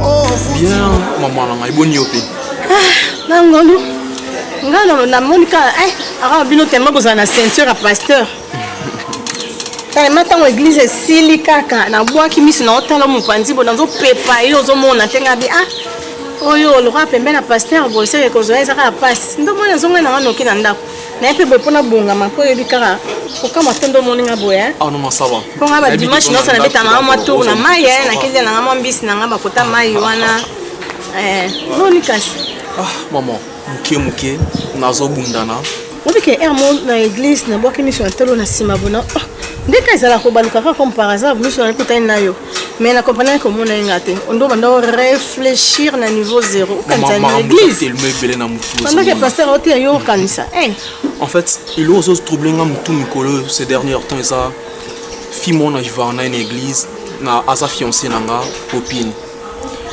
oh, bien maman na ngai boni yo mpe ah, nangolu ngai nolo namoni kaka eh, akaka bino tema bozala na ceinture ya pasteur tellement ntango eglize esili kaka nabwaki miso na otala mopanzi bo nazopepa ye ozomona te ngai bi ah oyo lokola pembe na paster boseke kozwa eza kaka mpasi ndomoni azongai nanga noki na ndako naye mpe boye mpona bongama mpo oyebi kaka kokamwa te nde omoni nga boye eh? ah, mpo nga badimanche nyonso nabeta nanga mwa tour na mai eh? nakende nanga mwa mbisi nanga bakota mai wana eh, noni kasi ah, mama moke moke nazobundana obike er mo na église nabwaki miso ya ntolo na nsima bona oh, ndeka ezalaka kobaluka kaka comme par hasard miso na ekutani na yo mais na comprenaki komona ye nga te ondo banda o réfléchir na niveau zéro okanisa na église pendant que pasteur oteya yo okanisa eh. en fait ilo ozo trouble nga motu mikolo ces derniers temps eza fi moko na vivaka na ye na église na aza fiancé na nga popine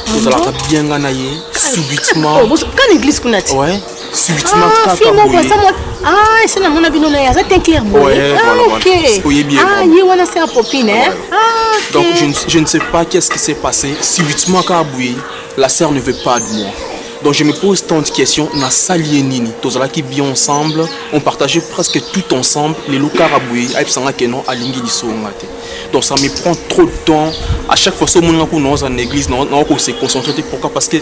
tozalaka ah bien nga na ye subitement oh, kana église kuna te Ah, fille moko aza mwa ah ese namona bino na ye aza te clair boye ah ok ah ye wana se apopine hein ah donc je ne, je ne sais pas qu'est-ce qui s'est passé subitement kaka boye la sœur ne veut pas de moi donc je me pose tant de questions nasali ye nini tozalaki bien ensemble on partageait presque tout ensemble lelo kaka boye ayebisanga ke non alingi lisonga te donc ça me prend trop de temps à chaque fois soki omonaka kuna oza na église nao kose concentre te pourquoi parce que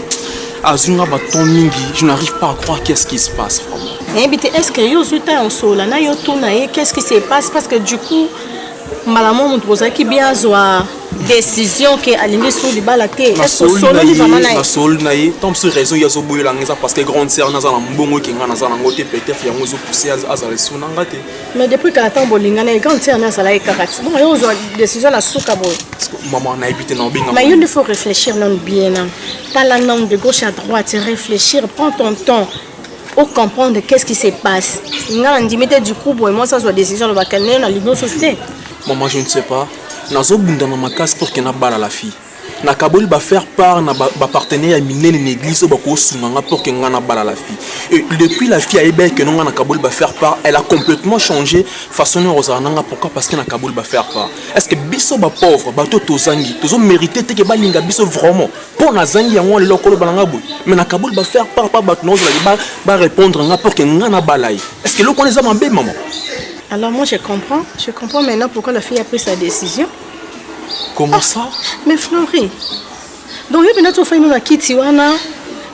azwi nga baton mingi je n'arrive pas à croire qu'est ce qui se passe vraiment nayebi te est ce que yo ozwi ntango osola na yo tuna ye qu'est ce qui se passe parce que du coup mbala mo moto bozalaki bien azwa décision ke alingi so libala te esololi vraiment na ye nasololi na ye tant biso raison ye azoboyelanga eza parce que grande sœur naza na mbongo ekenga naza nango te peut-être yango ezopousse azala esu na nga te mais depuis kala ntango bolingana ye grande sœur nde azalaki kaka ti bongo yo ozwa décision na suka boye maman nayebi te naobenga mais yo nde faut réfléchir nanu bien na tala nanu de gauche à droite réfléchir prends ton temps ocomprendre qu'est ce qui se passe nga na ndimi te du coup boye mwasi azwa décision alobaka nde nalingi osusu te maman je ne sais pas nazobunda na makasi pour ke nabala la fille Nakaboli ba faire part na ba partenaires ya minene na eglise oyo bako sunga nga pour que nga na bala la fille. Et depuis la fille ayebaki que nga nakaboli ba faire part, elle a complètement changé façon na kozala na nga pourquoi parce que nakaboli ba faire part. Est-ce que biso ba pauvres bato tozangi tozo meriter te que balinga biso vraiment? Po nazangi yango lelo koloba na nga boye. Mais nakaboli ba faire part pa bato nakozala ba ba répondre nga pour que nga na bala ye. Est-ce que eloko wana eza mabe maman? Alors moi je comprends, je comprends maintenant pourquoi la fille a pris sa décision. comment ah, ça mais flori donc yo mpenza tofai no na kiti wana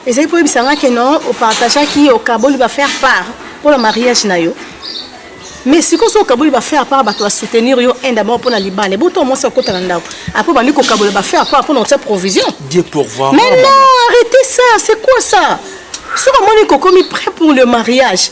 ezali mpo oyebisa nga ke non opartageaki okaboli bafaire part mpo na mariage na yo mais sikoyo soki okaboli bafaire apart bato basoutenir yo un d'abord mpo na libala ebo to mwasi akota na ndako apres obandi kokabola bafaire apart mpo na kotia provision mais non arrêtez ça c'est quoi ça soki omoni kokomi prêt pour le mariage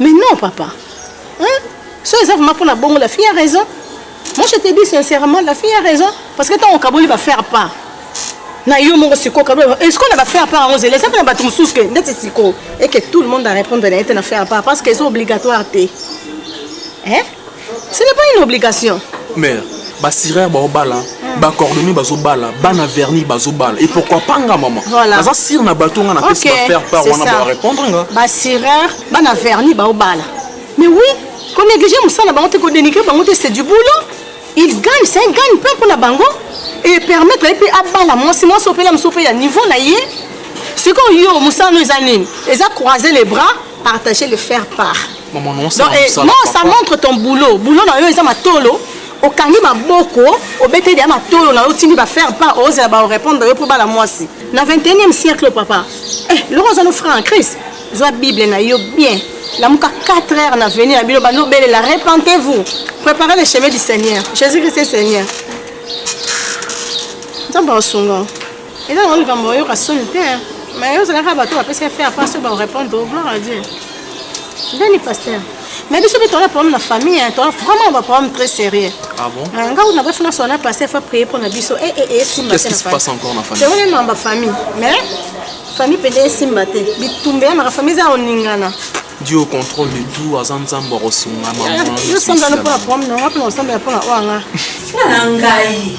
Mais non, papa. Hein? Ça, ça vraiment pour la bongo, la fille a raison. Moi, je te dis sincèrement, la fille a raison. Parce que tant au Kaboli va faire pas. na yo moko sikoyo kabla est-ce qu'on va faire part yango zela eza mpe na bato mosusu ke ndeti sikoyo et que tout le monde a répondre na ye te na faire part parce que eza obligatoire te eh? ce n'est pas une obligation mère basireur baobala hmm. bacordonnier bazobala bana verni bazobala et pourquoi pas nga mama naza sire na bato nga napesi bafaire part wana barépondre nga basireur bana verni baobala mais oui konéglige mosala bango te kodenigre bango te c'est du boulot il gagne c'est un gagne pain mpona bango et permettre ye mpe abala mwasi mwasi opela mosusu mpe ya niveau na ye sikoyo yo mosala no eza nini eza croiser les bras Partager le faire part. Maman, non, ça, Donc, eh, ça, non, ça papa. montre ton boulot. Boulot na yo eza matolo. okangi maboko obeteli ya matolo na yo otindi bafaire part ozela baorépondre yo mpo bala mwasi na 21e siècle papa eh, loko oza no franc en crise zwa bible na yo bien lamuka 4 heures na venir na bino banobelela repentez-vous préparez le chemin du seigneur jésus christ est seigneur nzambe asunga eza nango likambo oyoka soni te mais ozalaka bato bapesi efe apart so barepondre gloire à dieu ndeni pasteur mais biso mpe toza problème na famille hein, toza vraiment ba problème très sérieux ah bon euh, nga kuna bafuna sona pasteur fa prier mpo na biso e e e esimba te tewone namba famille mais famille mpenza esimba te bitumba ya maka famille eza oningana Dieu au contrôle de tout aza nzambe akosunga mamayosambela mpo na problème nanga mpo na kosambela mpo na oyo anga mpo na ngai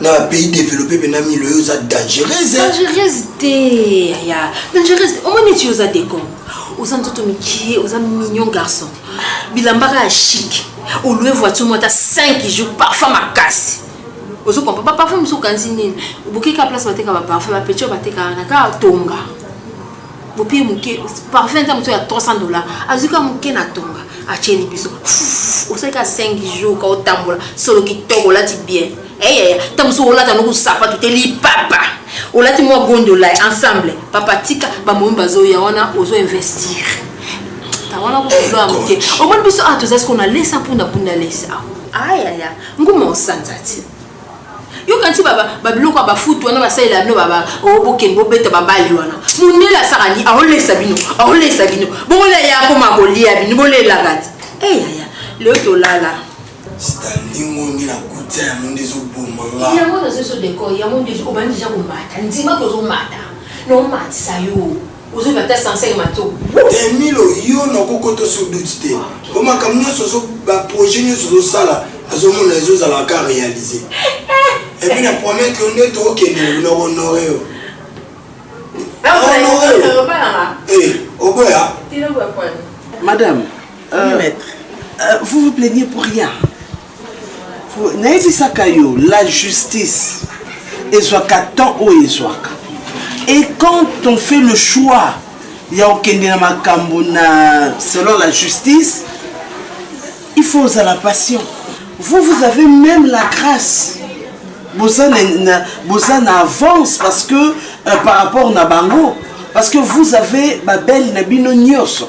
na ba pays développé mpe na milo yo oza dangereuse dangereuse te ya dangereuse te omoni eti oza decom oza nzoto mikie oza mignon garçon bilamba kaka chic olue voiture moko ata 5 jours parfum makasi ozo comprendre ba parfum mosusu okanisi nini obokeka place bateka ba parfum ba petio batekaka na kaka tonga bopiye moke parfum eza moto ya 300 dollar azwi ka moke na tonga atyeli biso osali ka 5 jour ka otambola solo kitoko olati bien eyaya ta mosusu olata noku sapatu te lipapa olati mwa gondola ensemble papa tika bamomi bazoya wana ozo investir ta wana kosolo ya moke omoni biso awa ah, toza sikoyo na lesa mpunda mpunda lesa ayaya nguma osanza ti yokanisi babiloko ya bafutu wana basalela bino bokende bobeta babali wana mondele asaka ni aolesa bino aolesa bino bongola ye akoma kolia bino bolelaka ti eyaya leo tolala stalingo nde na kutia yango nde ezoboma nga yango nazoso deko yango nde obandi deja komata ndima kozomata nomatisa yo Ozo na ta sensaire mato. Emilo yo na kokoto sur doute te. Bo makambo nyonso ozo ba projet nyonso ozo sala azo mona ezo zala ka réaliser. Et puis na promettre yo nde to kende na ko honorer yo. Na honorer yo. Eh, oboya. Madame, euh, euh, vous vous plaignez pour rien. nayebisaka yo la justice ezwaka temps oyo ezwaka et quand on fait le choix ya kokende na makambo na selon la justice il faut ozala patient vous vous avez même la grâce boza na, na, boza na avance parce que euh, par rapport na bango parce que vous avez babele na bino nyonso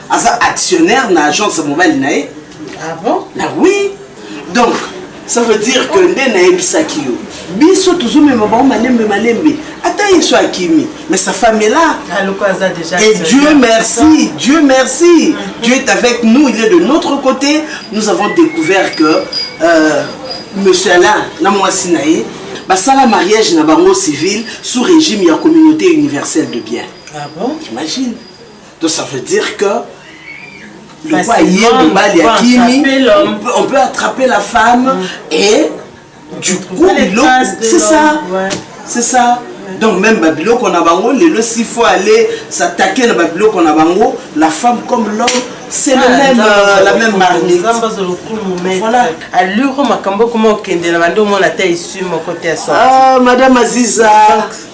aza actionnaire na agence mobali na ye ah bon? na oui donc ça veut dire que nde nayebisaki yo biso tozomema bango malembe malembe ata yesu akimi mais sa femme est là ah, et dieu merci dieu merci mm-hmm. dieu est avec nous il est de notre côté nous avons découvert que euh, monsieur alain na mwasi na ye basala mariage na bango civil sous régime ya communauté universelle de bien ah bon? imagine To ça veut dire que lokola ye mobali akimi on peut attraper la femme mm. et du coup biloko c'est ça ouais. c'est ça donc même babiloko na bango lelo s'il faut aller s'attaquer na babiloko na bango la femme comme l'homme c'est ah, le même, euh, la même marmite voilà aluro makambo okoma okende na bande omona ata esu moko te ya sorti ah, madame aziza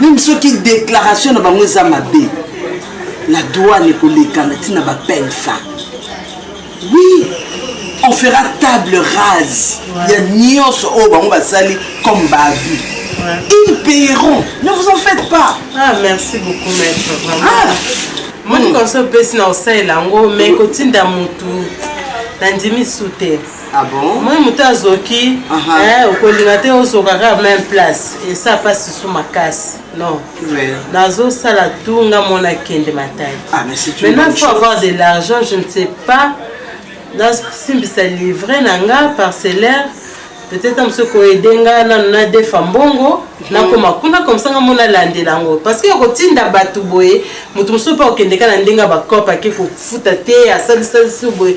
meme soki déclaration na bango eza mabe la douane ekoleka na ntina bapene fin oui on fera table rase ya nyonso oyo bango basali comme baabus ils payeront ne vous en faites pas ah, merci beaucoup maître vraiment ah. moni konso opesi na kosalela yango mai kotinda motu nandimi su te Ah bon? Moi moto azoki Aha. eh, okolinga te ozoka kaka même place esa mpasi su makasi non Ouais. nazosala tu nga mona kende mataki Ah, mais c'est une maintenant bonne faut chose. avoir de l'argent je ne sais pas nasimbisa livre na nga parcellaire peut-être mosu koyede nga nanu nadefa mbongo nakoma kuna komsa nga mona alandela yango parce que kotinda bato boye moto mosusu mpe akokendeka na ndenge ya bakope ake kofuta te asalisalisi boye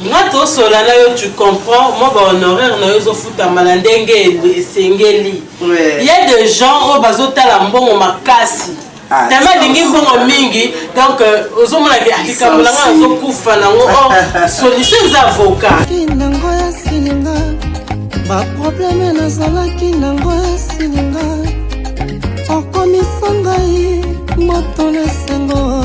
Nga tosola na yo tu comprends mwa ba honoraire na yo ezo futama na ndenge esengeli ya de gens oyo bazo tala mbongo makasi ah, tellement alingi mbongo mingi donc euh, ozomona ke likambo na nga azokufa nango o oh, solution eza avocat nango esilinga baprobleme nazalaki nango esilinga okomisa ngai moto na esengo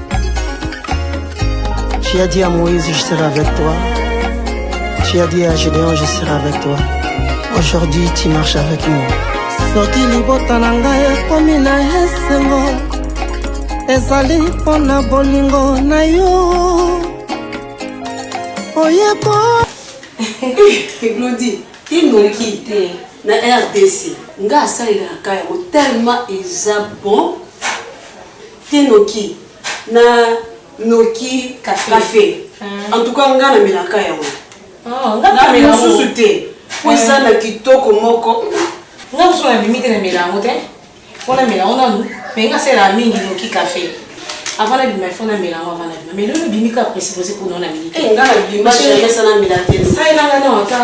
Tu as dit à Moïse, je serai avec toi. Tu as dit à Gédéon, je serai avec toi. Aujourd'hui, tu marches avec moi. soki libota na ngai ekomi na esengo ezali mpo na bolingo na yo oyeko glodi inoki te na rdc nga asalelaka yango tellement eza bon Te noki na noki cafe en tout cas nga na melaka yango na mela susu te po eza na kitoko moko nga mosu na bimi te na mela yango te po na mela yango nanu mais nga sela mingi noki cafe avant na bima il faut na mela yango avant na bima mais lelo bimi ka presse presse po na na meli te nga na bima chez nga na mela te sai na nga na wata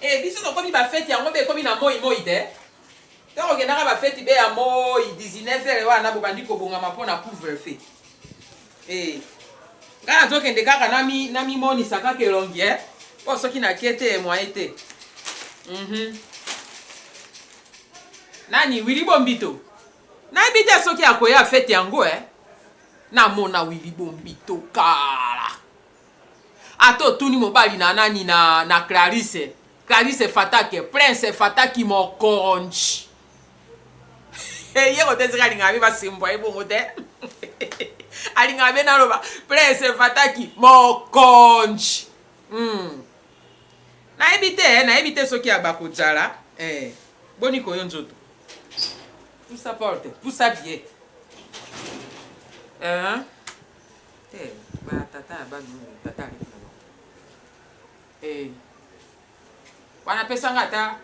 Eh biso tokomi ba feti yango be ekomi na moi moi te to kokendaka ba feti be ya moi 19 heures wana bobandi kobongama mpo na couvre feu eh ngai nazokende kaka namimonisa kaka elongi e mpo soki nake te moye te mhm. nani wili bombito nayebi te soki akoya fete yango e namona wili bombito kala Ata otuni mobali na nani na na Clarisse, Clarisse fatake, prince fataki mokonji. Hey, ye kotezeka alingaka be basimbwa ye bongo te. alingaka be naloba prince fataki mokonji. Hmm. Nayebi te, eh, nayebi te soki abakojala. Eh. Boni koyo nzoto. Pusa porte, pusa bie. Eh. Te ba tata ya bana oyo tata aleki na bango eh wana pesanga ata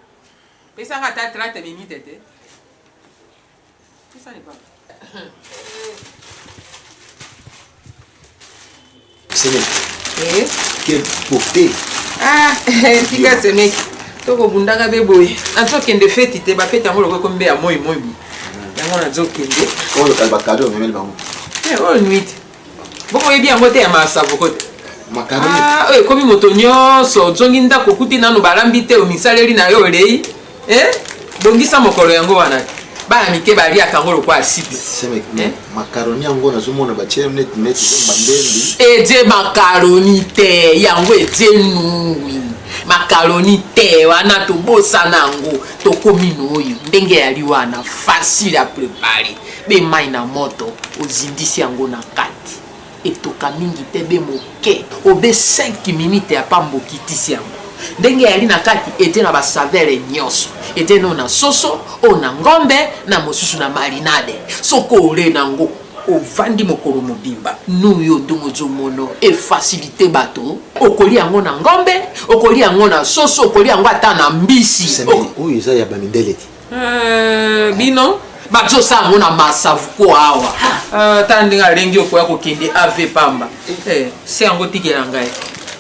pesanga ata 30 minutes te pesa libanga semeki eh quel portée ah tika semeki tokobundaka be boye ato kende feti te bafeti yango lokola ekomi mbe ya moi moi boye yango nazokende oyo kali bakado omemeli bango eh, oyo nuiti bongo oyebi yango te ya masavoko te ah, oyo ekomi moto nyonso ozongi ndako okuti nano balambi te omisaleli na yo olei eh? bongisa mokolo yango wana te bana mike baliaka yango lokola asipi eh? makaroni yango nazomona batie neti neti bambendi edie makaroni te yango edie nungwi makaroni te wana tobosana yango tokomi noyo ndenge yali wana facile a prepare be mai na moto ozindisi yango na kati etoka mingi te be moke obe 5 minute ya pamba okitisi yango ndenge yali na kati ete na basavele nyonso ete no na soso oyo na ngombe na mosusu na marinade soko ole na yango ovandi mokolo mobimba nous yo ndenge ozomono efacilite bato okolia yango na ngombe okolia yango na soso okolia yango ata na mbisi oyo eza ya bamindele te euh, bino bazosala yango na masavuko awa euh, ta ndenge alengi okoya kokende av pamba eh, se yango tikela ngai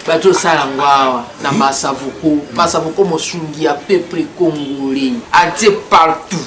bazosala yango awa na masavuko masavuko mosungi ya peuple congolais atie partout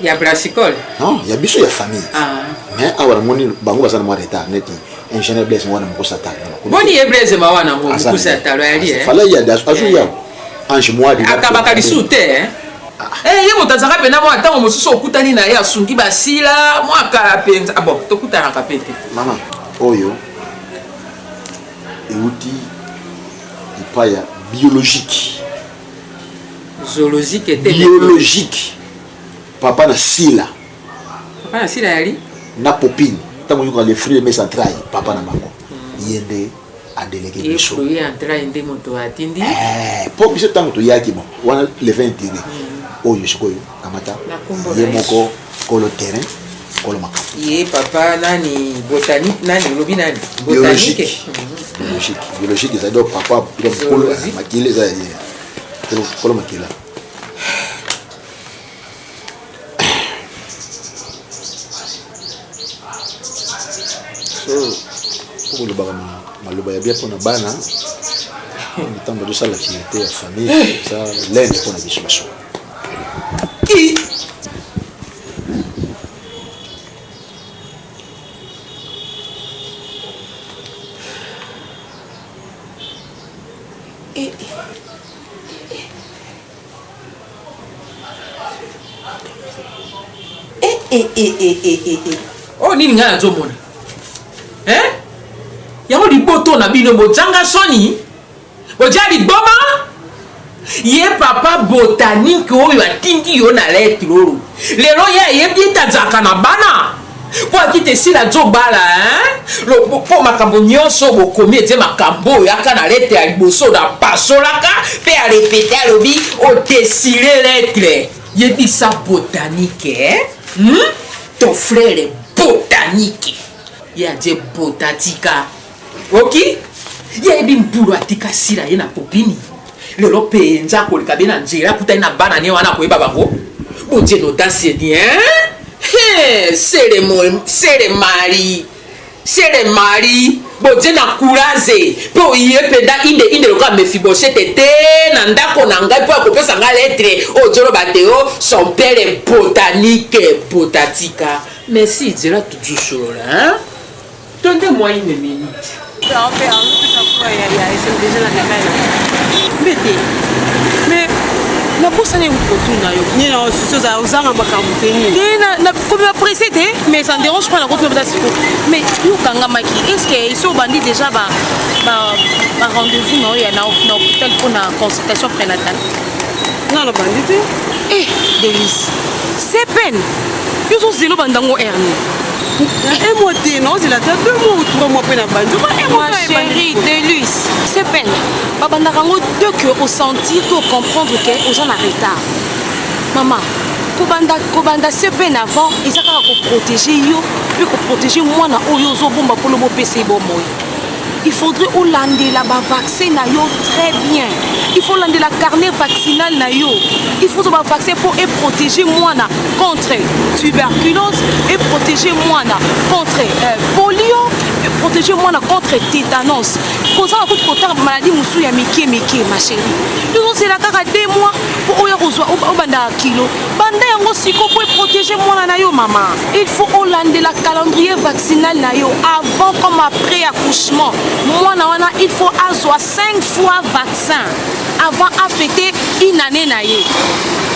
ya brassicole non ya biso ya famille ah. mais awa namoni bango baza na mwa retard neti ingénieur blaise mawana mokosa talo boni ye blaise mawana yango mokosa talo yali eh? fala ye azo ya ange mwadi akabaka lisusu te eh? ah. eh, ye moto azalaka mpena mwa ntango mosusu okutani na ye asungi basila mwa kala mpenza ah, bon tokutanaka mpe te mama oyo euti epai ya biologique zoologique ete biologique papa na sila papa na sila yali na popine ntango oyoka le fruit mes entrailles papa na bango hmm. ye nde adeleke biso ye entraille nde moto atindi mpo eh, biso ntango toyaki bon wana le vin intérêt hmm. oyo sikoyo kamata ye moko kolo terrain kolo makambo ye papa nani botanique nani olobi nani botanique biologique biologique ezali donc papa kolo makila eza ye kolo makila kolobaka maloba ya bien mpona bana ntango tozosala fierté ya famille eza lene mpona biso basuka Eh, eh, eh, oyo oh, nini ngai nazomona yango liboto na bino bojanga soni Oja liboma ye papa botanique oyo atindi yo na lettre oyo lelo ye ayebi ete azalaka na bana mpo akita esila azobala mpo makambo nyonso bokomi ete makambo oyo yaka na letre ya liboso na pasolaka mpe arepete alobi odesile oh, letre yebisa botanike eh? hmm? ton frere botanike ye atie botatika Oki yebi mpulu atika sila ye na popini lelo penza akoleka be na nzela akutani na bana ne wana akoyeba bango bodie nodasi ni sele mari sele mari bodie na kuraze mpe oye mpenza inde inde lokola mefiboshete te na ndako na ngai mpo akopesa ngai letre ojoloba te o oh, son pere botanike botatika merci zela tujusolola To nde mwa ine miniti. Awa mpe azopesa mpo ya ya esem deja na kamera. Mbe te. Me nabosani kotuna yo nini na susi ozala ozanga makambo te nini te nakomi bapresse te mais ça ne dérange pas nakomi bata siko mais yo okangamaki est ce que esi obandi déjà ba rendez-vous na oyo ya na hôpital mpo na consultation prénatale nga nabandi te eh delice c'est peine yo ozozela obandango hernie na un mois te naozela ata deux mois ou trois mois mpe na bandi ma chérie delus c'est peine babandaka yango deux que osentir to comprendre ke oza na retard mama kobanda kobanda se peine avant eza kaka koprotege yo mpe koprotege mwana oyo ozobomba mpona bopesa ye bomoi il faudrait olandela bavaccin na yo très bien il faut olandela carnet vaccinal na yo il faut ozwa bavaccin mpo eprotege mwana contre tuberculose eprotege mwana contre euh, polio eprotege mwana contre tétanos kozala kutu kotanga bamaladi mosusu ya mike mike ma chérie tozozela kaka de mois mpo oya kozwa obanda kilo banda yango siko mpo eprotege mwana na yo mama il faut olandela calendrier vaccinal na yo avant comme après accouchement mwana wana il faut azwa 5 fois vaccin avant afete une année na ye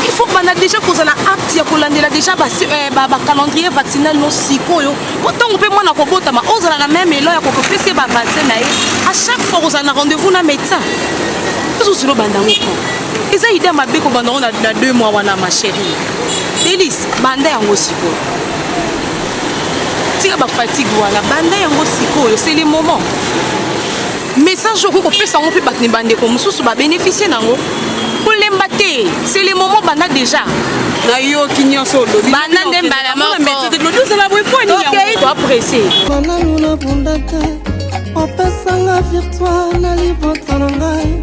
il faut banda déjà kozala apte ya kolandela déjà bacalendrier euh, ba vaccinal no sikoyo mpo ntango mpe mwana kobotama ozala na meme elo ya kokopesa ye bavaccin na ye à chaque fois kozala na rendez-vous na médecin ezozilo banda yango eza idea mabe kobanda yango na deux mois wana ma chérie delis banda yango sikoyo tika bafatigue wana banda yango sikoyo c'est le moment message okoki kopesa yango mpe bato na bandeko mosusu babénéficie na yango kolemba te c'est le moment banda déjà nayoki nyonso olobi banda nde mbala mokookei toapresse mananu nabundaka opesanga virtoire na libota na ngai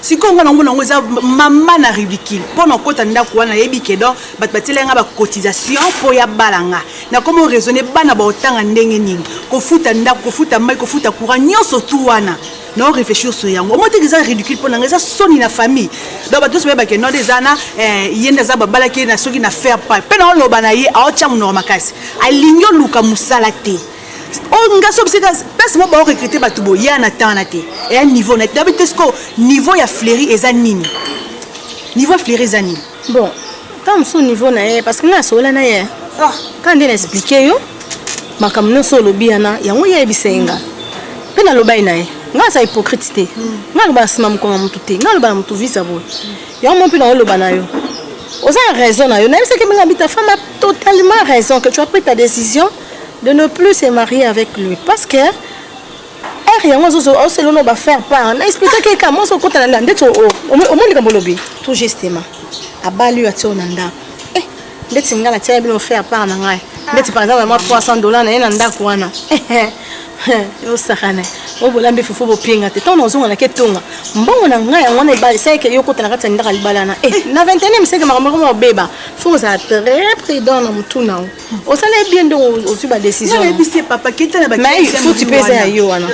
sikoyo nga namona yango eza mama na ridicule mpo na okota ndako wana nayebi kedon bato batielai nga bacotisation mpo ya bala nga nakomi oraisonne bana baotanga ndenge nini kofuta ndako kofuta mai kofuta courant nyonso tu wana na oreflechir sur yango omo teke eza ridicule mpo na nga eza soni na famille donc bato nyonso bayebake node eza na eh, ye nde aza babalaki ye na soki na faire pa mpe naoloba na ye aotya monoko makasi alingi oluka mosala te Oh, nga so bisika place moko bao recruter bato boya na temps na te eya niveau na nabi te siko niveau ya fleri eza nini niveau ya fleri eza nini bon ka mosusu niveau na ye parce que nga asola na ye ah. ka nde na explike yo makambo nyonso olobi yana yango ye ayebisa ye nga mpe nalobai na ye nga aza hypocrite te hmm. nga aloba na nsima mokolo ya motu te nga aloba na motu visa boye yango mo mpe naoloba na yo oza na raison na yo nayebisaki minga bita fama totalement raison que tu as pris ta décision de ne plus se marier avec lui parce que heure yango oselona oh, bafaire part na explike keka mwasi okotana nda ndeti omoni likambo olobi tout justement abali oyo atia oyo na ndako eh, ndeti ngai natiaka bino faire part na ngai ndeti par exemple mwa 300 dollar na ye na ndako wana osakana oyo bolambi fufu bopinga te ntango nazonga nake tonga mbongo na ngai yango wana ebali esalaki yo okota na kati ya ndaka libala na eh, na 21 miseke makambo yango mobeba fo kozala très prudent na motuna yango osala ye bien ndongo ozwi ba décisionfuti mpe eza ya yo wana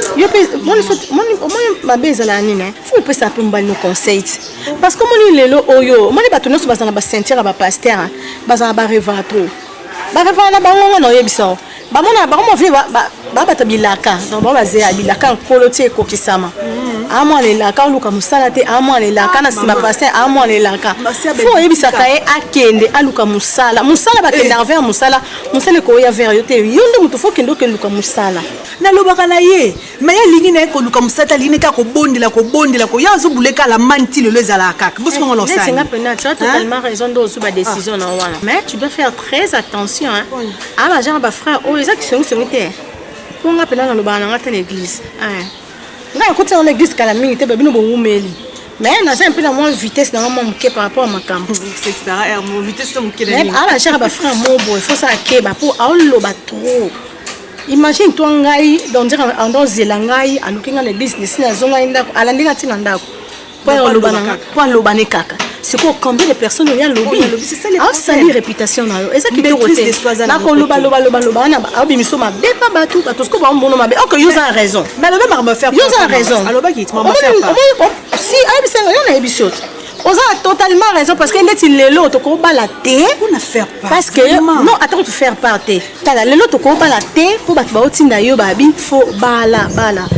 omoni mabe ezala ya nini fo opesa mpe mobali no conseil ti parce que omoni lelo oyo omoni bato nyonso bazala na bacenture ya bapaster bazala barevara trop barevara na bango ngo na oyebisa o bamonaka bango mavie ba bata bilaka donc ba bazeya bilaka nkolo ti ekokisama amwana elaka oluka mosala te amwana elaka na nsima pasteur amwana elaka fo oyebisaka ye akende aluka mosala mosala bakendaka vers mosala mosala ekoya vers yo te yo nde moto fo okende okende luka mosala nalobaka na ye me ye alingi na ye koluka mosala te alingi neka kobondela kobondela koya azobuleka alamani ti lelo ezalaka kaka bosongo losalinga mpena tu as totalement raison nde ozwi badecision na wana mais tu dois faire très attention hein? Ah ba genre ba frère oyo eza kisongi songi te. Mpo nga pena nalobaka na nga te na église. Ah. Nga nakoti na église kala mingi te babino bowumeli. Mais naza mpe na mwa vitesse na nga mwa moke par rapport ya makambo. Ah ba genre ba frère mo boye faut ça akeba mpo aoloba trop. Imagine toi ngai donc dire ando zela ngai aluki ngai na église nesi nazongai ndako alandi ngai ntina ndako. mpo aloba ne kaka sikoyo combien de personnes oyo alobi asali réputation na yo eza kitoko te nakolobalobaloba wana abimiso mabe mpa bato bato sikoyo bamono mabe ok yo oza na raison yo oza na raison si ayebisa nga yo nayebisi yo te oza na totalement raison parce que ndeti lelo tokobala te parce que non atako tofaire part te tala lelo tokobala te mpo bato baotinda yo babi fo bala bala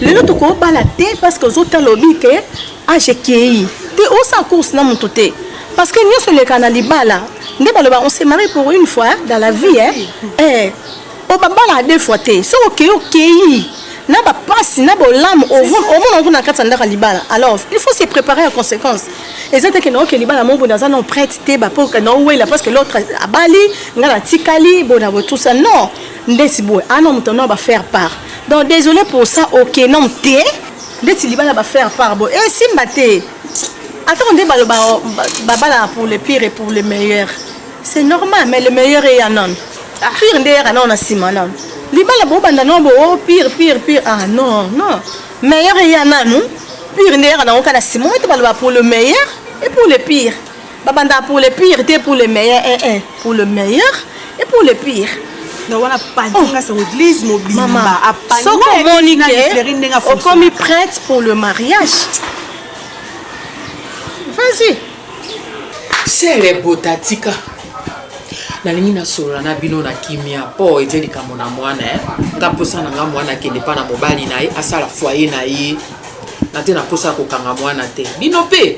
lelo tokobala te parce que ozota lobi ke age ekei te osala course na moto te parce que nyonso eleka na libala nde baloba on se marie pour une fois dans la vie hein? eh, o babalaka deux fois te soki okei okei na bapasi na bolamu omona kuna na kati ya ndako ya libala alors il faut se préparer ya conséquence eza te kende oke libala moko boye naza non prête te bapoka naowela parce que l'autre abali ngai natikali boye na botusa non ndeti boye un homme ton homme ba faire part donc désolé pour ça ok nom te ndeti libala ba faire part boye esimba eh, te atako nde baloba babalaka pour le pire et pour le meilleur c'est normal mais le meilleur eya nano ah. pire nde eyaka nano na nsima nano libala bobanda nano bo oh, pire pire pire ah non non meilleur eya nano pire nde eyaka nango kaka na nsima oyo te baloba pour le meilleur et pour le pire babandaka pour le pire te pour le meilleur eh, eh, pour le meilleur et pour le pire na wana apanzinga sa église mobimba soki omoni ke okomi prête pour le mariage vas-y sele bota tika nalingi nasolola na bino na kimia mpo ete likambo na mwana eh. nga mposa na nga mwana akende mpa na mobali na ye asala foye na ye na te na mposa ya kokanga mwana te bino mpe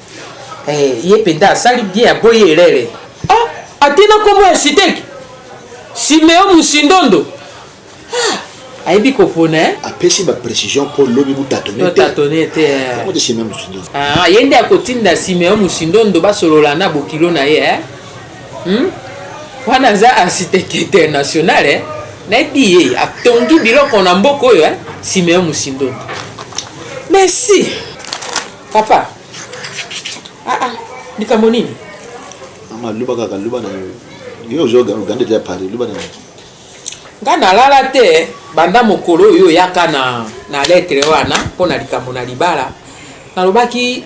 Eh, ye mpenza asali bien aboyi elele ah, atina nkombo ya siteki simeo musindondo ah, ayebi kopona eh? apesi baprécision mpo lobi botatone te ah, ye nde akotinda simeo musindondo basolola na bokilo na ye eh? hmm? wana aza architecte international eh? nayebi ye atongi biloko na mboka oyo eh? simeo musindondo merci Papa. Ah ah, likambo nini? Mama luba kaka luba na yo. Yo ozo gande ya Paris luba na yo. Nga nalala te banda mokolo oyo oyaka na na lettre wana mpo na likambo na libala nalobaki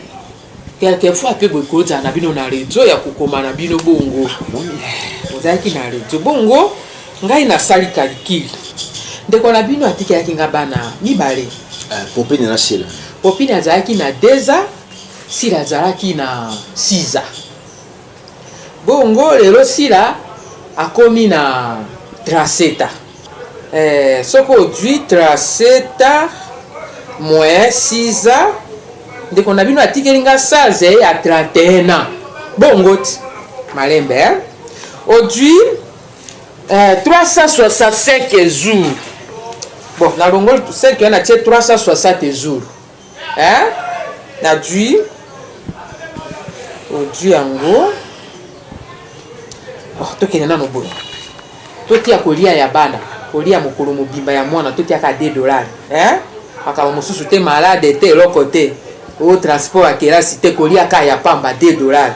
quelquefois mpe bokozala na bino na rezo ya kokoma na bino bongo ah, ozalaki na rezo bongo Ngai na sali calcul. Ndeko na bino atikelaki nga bana mibale. Uh, Popine na Sila. Popine azalaki na 2 ans, Sila azalaki na 6 ans. Bongo lelo Sila akomi na 37 ans. Eh, soki ozwi 37 ans moins 6 ans ndeko na bino atikeli nga 16 eh, ya 31 ans bongo ti malembe eh? ozwi 365 jours bon na longoli 5 wana tie 360 jours hein na dui odui yango bon tokende nano boye totia kolia ya bana kolia mokolo mobimba ya mwana totiaka 2 dollar hein makambo mosusu te malade te eloko te o transport ya kelasi te kolia ka ya pamba 2 dollar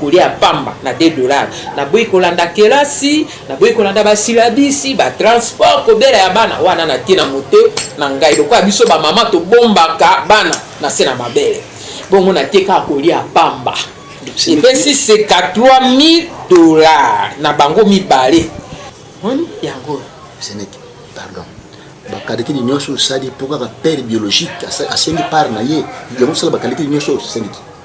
Kolia ya pamba na 2 dollars. Naboyi kolanda kelasi, naboyi kolanda ba silabisi, ba transport, kobela ya bana wana na tie na moto na ngai. Lokola biso ba mama tobombaka bana na se na mabele. Bongo na tie kaka kolia ya pamba. Epesi seka 3000 dollars na bango mibale. Moni yango. Seneki, pardon. bakalikili nyonso osali mpo kaka père biologique asengi part na ye yango osala bakalikili nyonso osengi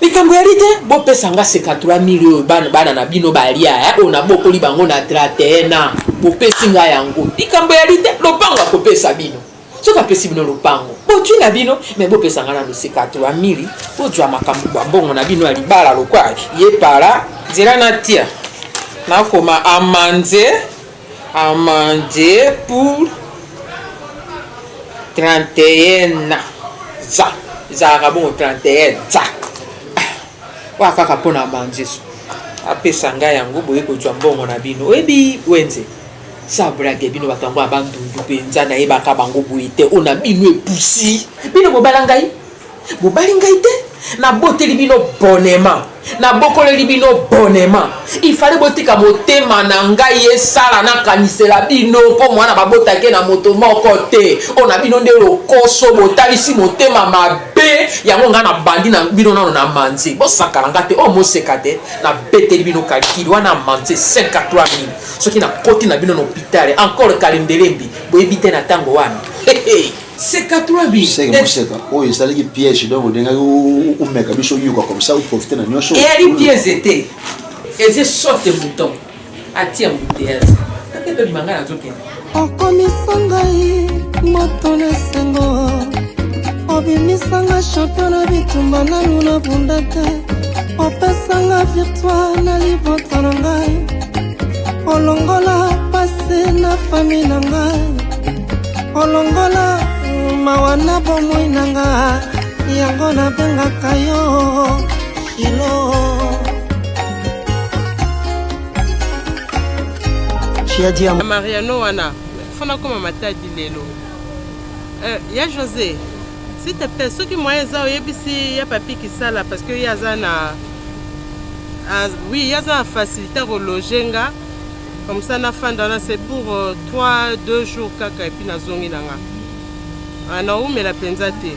likambo ya lite bopesa nga seka 3000 oyo bana, bana na bino balia eh, oyo nabokoli bango na 31 ans bopesi nga yango likambo ya lite lopango akopesa bino soki apesi bino lopango botwi na bino me bopesa nga nano seka 3000 bozwa makambo bwa mbongo na bino ya libala lokwa ye para nzela natia nakoma amanze Amande pour 31 ans za ezalaka bongo 31 za oya kaka mpo na amande yesu apesa ngai yango boye kozwa mbongo na bino oyebi wenze sa brage bino bato yango ya bandundu mpenza nayebaka bango boye te oyo na bino epusi bino bobala ngai Bobali ngai te, naboteli bino bonema, nabokoleli bino bonema. Il fallait botika motema na ngai esala nakanisela bino mpo mwana babotake na moto moko te. Oyo na bino nde lokoso, botalisi motema mabe, yango ngai nabandi na bino nano na manze. Bosakana ngai te, oyo moseka te, nabeteli bino kalkili wana manze 5 à 3 mille. Soki nakoti na bino na hopitale, encore kalembelembi, boyebi te na ntango wana. Hey, hey. seka trois bi seka eh. moseka oyo esalaki piège donc odengaki omeka biso oyoka comme ça oprofite na nyonso eyali eh, piège te eze sote mouton atia moutease akende obima ngai nazokende okomisa ngai moto na esengo obimisanga champion na bitumba nanu na bunda te opesanga virtoire na libota na ngai olongola pase na fami na ngai olongola mawa na bomoi na nga yango nabengaka yo shilo mariano wana fona koma matadi lelo eh, ya josé s'il te plaît soki moyen eza oyebisi ya papi kisala parce que ye aza na ah, oui ye aza na facilité akologe nga comme ça nafanda wana c'est pour 3 euh, 2 jours kaka epuis nazongi na nga ah, naumela mpenza te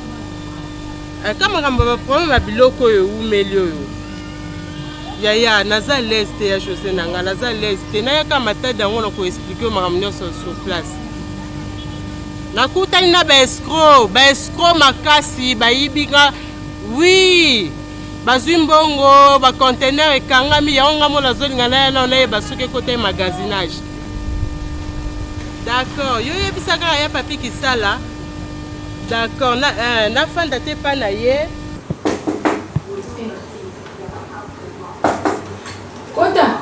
eh, ka makambo ya baproblème ya biloko oyo eumeli oyo yaya naza lese te ya josé na nga naza lese te nayaka matadi yango na koexplike yo makambo nyonso sur place nakutani na baescro baescro makasi bayibi nga wi oui. Bazui mbongo, ba conteneur ekangami, yango nga mona azolinga naya nao nayeba soki ekota ye magasinage. D'accord, yo yebisa kaka ya papi kisala. D'accord, na, eh, nafanda te pa na ye. Kota.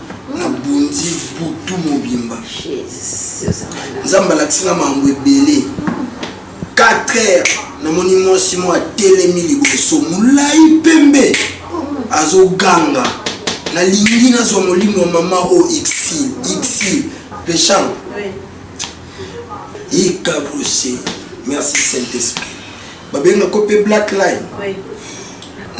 nabundi butu mobimba nzambe alakisi nga makambo ebele 4 heures namoni mwasi moko atelemi liboso molai pembe azoganga nalingi nazwa molimo ya mama oyo exil exil pecham ekabrose merci saint esprit babenga ko pe black line oui.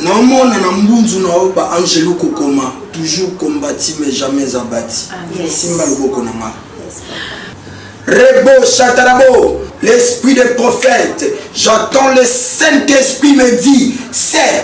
naomona na mbunzu na yo ba angelo kokoma toujours combati mais jamais abati ah, yes. simba loboko na nga yes. rebo chatarabo l'esprit des prophètes j'attends le saint esprit me dit c'est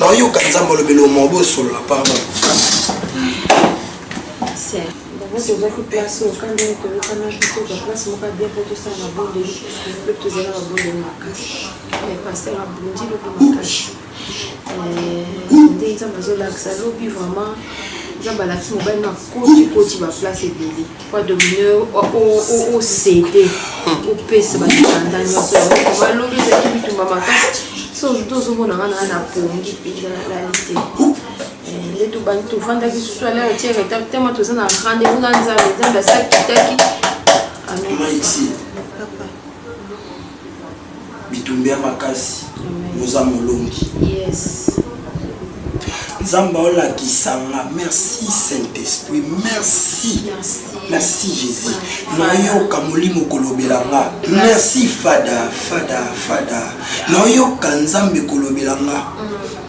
naoyoka nzambe olobeli omo bosolola pardon Mabonde ozwaki place oyo kanda nini toyokana juste ozwa place moko ya bien mpo tosala mabondeli mpe tozala mabondeli makasi eh, paster abundi lobi makasi eh, nde nzambe azolakisa lobi vraiment nzambe alakisi mobali makoti koti baplace ebele Papa Domino, o cede, o pesa ba kanda nyoso, ba lobi za ki bitumba makasi. So to zo mona nga na pongi pesa na la liste. Eh, le to bani to fanda ki susu ala o tiere ta tema to za na rande na nza le nza ba sakitaki. Amen. Papa. bitumba ya makasi oza molongi nzambe olakisanga merci saint esprit merci merci jésus nayoka molimo kolobela nga merci fada fada fada nayoka nzambe kolobela nga mm.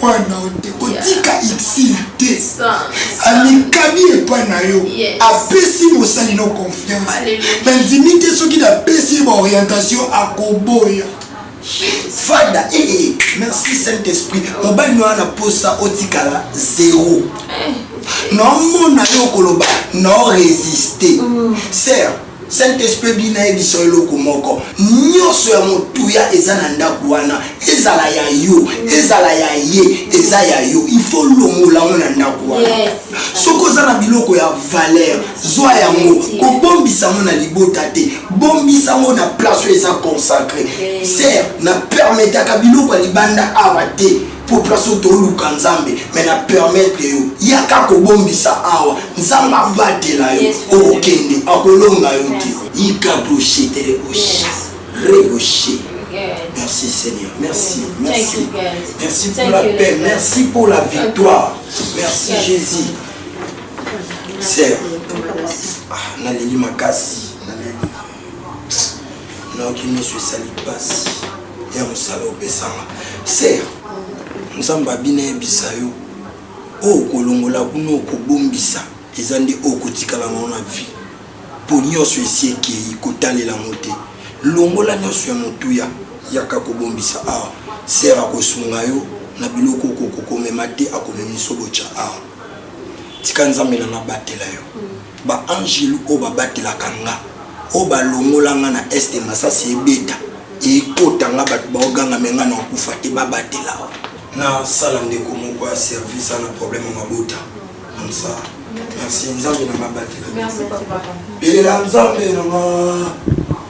Point na yo te kotika exil te amikabi epai na yo apesi mosali no confiance nandimi te soki napesi ye baorientation akoboya fada ee eh, eh, eh. merci saint esprit mobali no wana posa otikala zero naomona yo okoloba nao resiste mm. ser Saint esprit ebi nayebisa yo eloko moko nioso ya motuya eza na ndaku wana ezala ya yo ezala ya ye eza ya yo il faut olongola yango na ndaku wana soki oza na biloko ya valeur zwa yango kobombisa yango na libota te bombisa yango na place oyo eza consacre ser na permetaka biloko ya libanda awa te Pourquoi so toluka nzambe mais na permettre yo yaka kobombisa awa nzambe abatela yo okokende akolonga yo te yika doshe tele oshe reboshe Merci Seigneur, merci, merci. Merci pour la paix, merci pour la victoire. Merci Jésus. Seigneur, ah, naleli makasi. nayoki miso esali mpasi ya mosala opesanga ser nzambe abina yebisa yo oyo okolongola kuna okobombisa eza nde oyo okotikala nao na vie mpo nyonso esi ekei kotalela yango te longola nyonso ya motuya yaka kobombisa awa ser akosunga yo na biloko okokokomema te akomemiso botya awa tika nzambe na nabatela yo Ba angelu oyo ba batelaka nga oyo ba longola nga na est masasi ebeta ekota nga batu bao ganga mais nga nao kufa te ba batela wa. Na sala ndeko moko ya service a na problème ya mabota comme ça merci nzambe na nga abatela yo. Belela nzambe na nga.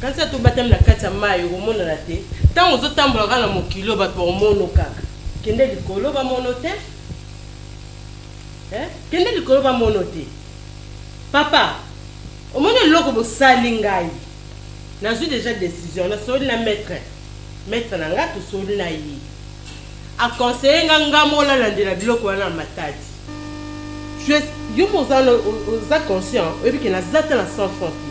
Kanisa to batami na kati ya mayi okomonana te tango ozo tambola kaka na mokili oyo bato bakomono kaka kende likolo bamono te eh? kende likolo bamono te papa omoni eloko bosali ngai nazwi deja decision nasoli na maître maître na ngai tosoli na ye A conseiller nga nga mo lalandela biloko wana ya matadi. Je yo pe oza oza conscient oyebi ke naza ata na 100 francs te.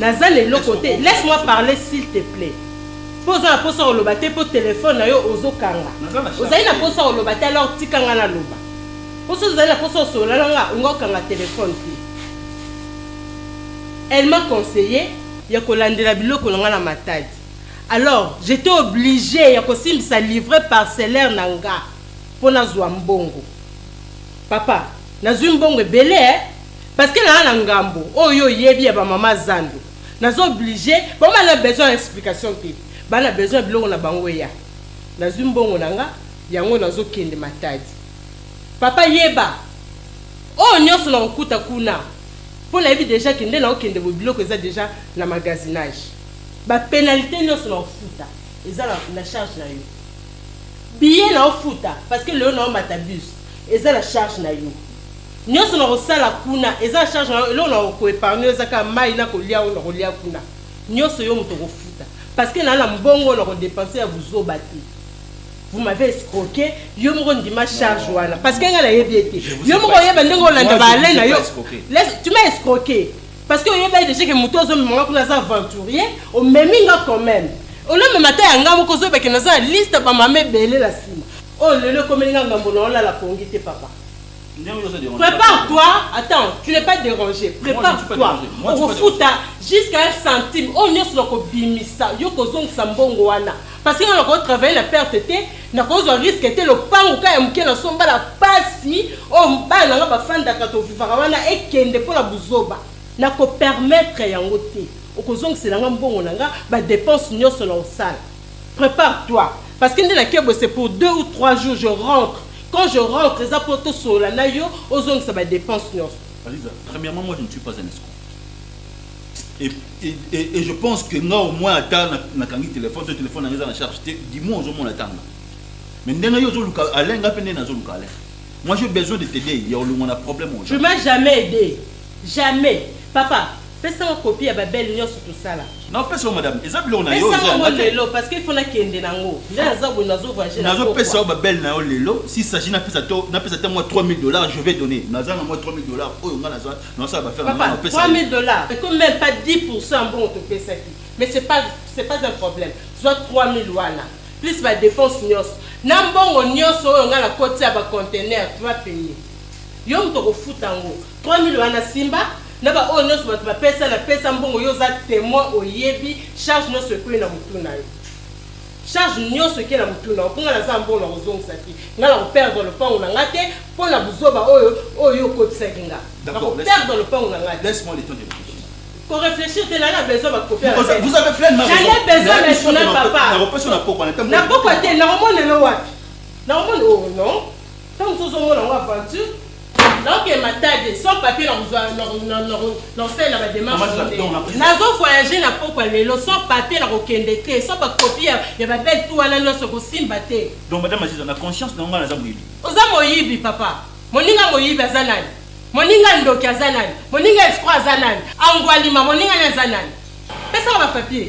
Naza na eloko te. Laisse moi parler s'il te plait. Po oza na posa ya koloba te po telephone na yo ozo kanga. Ozali na posa ya koloba te alors tika nga naloba. Po soki ozali na posa ya kosolola na nga olingi okanga telephone te. Elle m'a conseiller ya kolandela biloko na nga na matadi. alors j'etais oblige ya kosimbisa livret parcellaire na nga po nazua mbongo papa nazui mbongo ebele eh parce que naza na ngambo oyo yo oyebi ya ba mama zando naza oblige bango ba na besoin ya explication te ba na besoin ya biloko na bango eya nazui mbongo na nga yango nazo kende matadi papa yeba oyo nionso na kokuta kuna po nayebi dejà ke nde nao kende boye biloko eza dejà na magasinage Ba penalite nionso nao futa eza na charge na yo. Billet nao futa parce que lelo nao mata bus eza na charge na yo. Nionso nako sala kuna eza na charge na yo. Eloko nako ko epargne yo eza kaka mayi nako lia oyo nako lia kuna. Nionso yo moto oko futa parce que naa na mbongo oyo nako depense ya buzoba te. Vous m'avez escroque, yo moko ndima charge wana parce que nga nayebi ye te. Yo moko oyeba ndenge olanda ba Alain na yo. Tu m'as escroque. Parce que oyebi déjà que mutu azo mema kuna aza aventurier, omemi nga quand même. Olo mema ta yanga moko zo beke naza na liste ba mama ebele la sima. Oh lelo komeli nga ngambo na ola la pongi te papa. Prépare-toi, attends, tu n'es pas dérangé. Prépare-toi. Okofuta jusqu'à un centime. Oh nyoso na kobimisa, yo kozongisa mbongo wana. Parce que nga nako travailler na perte te, nako zwa risque te, lopangu ka ya muke na somba na pasi oyo oh, bana nanga ba fandaka to vivaka wana ekende pona buzoba. Nako permettre yango te. Oko zongisela nga mbongo na nga, ba depenses nionso nao sala. Prepare toi parce que nde na kebwe c'est pour deux ou trois jours je rentre. Quand je rentre eza po to solola na yo ozongisa ba depenses nionso. Aliza, premièrement moi je ne suis pas un escroc. et, et, et, et je pense que nga au moins ata nakangi na téléphone to téléphone nanga eza na charge te du moins ozomona ata nga mais ndenge yo ozoluka alain nga mpe nde nazoluka alain moi j'ai besoin de t'aider ya olongwa na problème oyo tu m'as jamais aidé jamais papa pesa nga copie ya babele nyonso tosala napesa yo madame eza biloko na yo lelo parce que ifo nakende nango nde naza boye nazo voyage nazopesa yo babele na yo lelo si saji napesa to napesa te mwa 3000 dollars je vais donner naza na mwa 3000 dollars oyo nga naza Papa, 3000 dollars, c'est comme même pas 10% ya mbongo topesaki. Mais c'est pas, c'est pas un problème. Zwa 3000 wana, plus ba depenses nionso. Na mbongo nionso oyo nga nakoti ya ba containers, tu vas payer. Yo moto okofuta yango. 3000 wana simba, na ba oyo nionso bato bapesa, napesa mbongo, yo oza temoin, oyebi, charge nionso ekweyi na mutu na yo. Charge nionso eke na mutu na yo po nga naza mbongo na kozongisa te nga na ko perdre lopangu na nga te po na buzoba oyo oyo yo okotisaki nga na ko perdre lopangu na nga te. Ko reflechir te naza na besoin ba copie ya Ken Vous avez pleinement raison. Jamais besoin mais son na papa. Na ko pesa na pokwa na te. Na pokwa te na ko mona yo wapi? Na ko mona oh non. Tango mosusu ozomona yango aventure naoke matade sans papier nakosalela bademarche nazo voyage na pokwa lelo sans papier nakokende te sans bakopi ya babele tu wana nyonso kosimba te donc madame aziza na conscience na ngai naza moyibi oza moyibi papa moninga moyibi aza nani moninga ndoki aza nani moninga escro aza nani angwalima moninga ni aza nani pesaka bapapier